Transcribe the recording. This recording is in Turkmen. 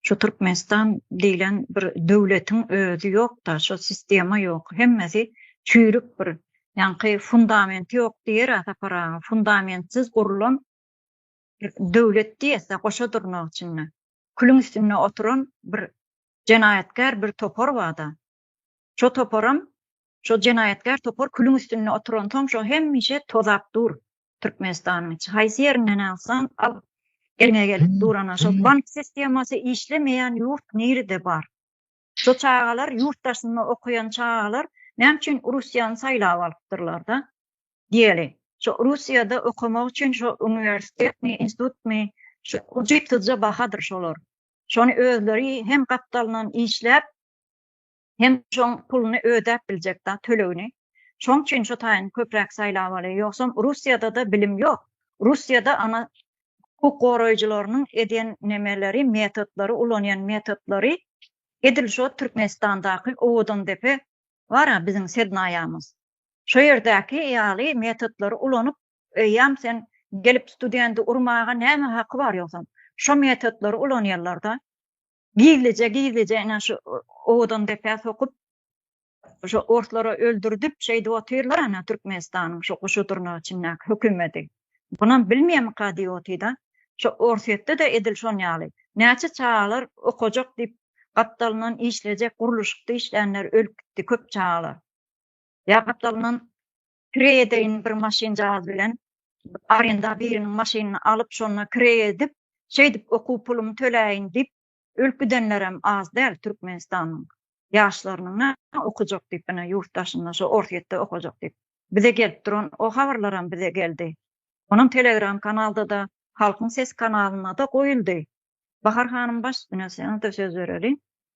Şu Türkmenistan diýlen bir döwletiň özi ýok-da, şu sistema ýok. Hemmesi çüýrük bir. Ýaňky fundamenti ýok diýer-ä Sapar aga. Fundamentsiz gurlan döwlet diýese goşa durnak içinde. Külüň üstünde oturan bir jenaýatkär bir topar bar-da. Şo toparam, şo jenaýatkär topar külüň üstünde oturansoň şo hemişe tozap dur. Türkmenistanyň içi haýsy ýerinden alsaň al eliňe gelip durana şol bank sistemasy işlemeýän ýurt nirede bar? Şu çagalar ýurt daşynda okaýan çagalar näme üçin Russiýany saýlap alypdyrlarda? Diýeli. Şu Russiýada okamak üçin şu uniwersitetmi, institutmy şu ucitsyzja bahadyr şolar. Şony özleri hem gapdalyndan işläp Hem şoň puluny ödäp biljek da tölegini. Şoň üçin şo taýyny köpräk saýlawaly. Ýogsam Russiýadada bilim ýok. Russiýada ana hukuk goraýjylarynyň edýän nemeleri metodlary ulanýan metodlary edil şo Türkmenistandaky Owadandepe bara biziň sednaýamyz. Şo ýerdäki ýaly metodlary ulanyp eýýäm sen gelip studenti urmaga näme haky bar ýogsam. Şo metodlary ulanýarlarda. Gizlije gizlije ene şu owadan depä sokup şu orslary öldürdip şeýdip otyrlar ene türkmenistanyň şu guşy durnak içindäki hökümedi bunam bilmeýärmika diýip otyrda şu orsyýetde de edil şon ýaly näçe çagalar okajak diýip gapdalyndan işlejek gurluşykda işlänler ölüp gitdi köp çagalar ýa gapdalyndan Kireýedeýin bir maşynjaz bilen arenda biriniň maşynyny alyp şonda kireý edip şeýdip okuw pulumy töläýin diýip ölüp gidenlerem az däl Türkmenistanyň ýaşlarynyň na okajak diýip ine ýurt daşynda şo Orsýetde okajak diýip bize gelip duran o habarlaram bize geldi onam telegram kanaldada Halkyň sesi kanalynada goýuldy Bahar hanym baş ine seniňde söz bereliň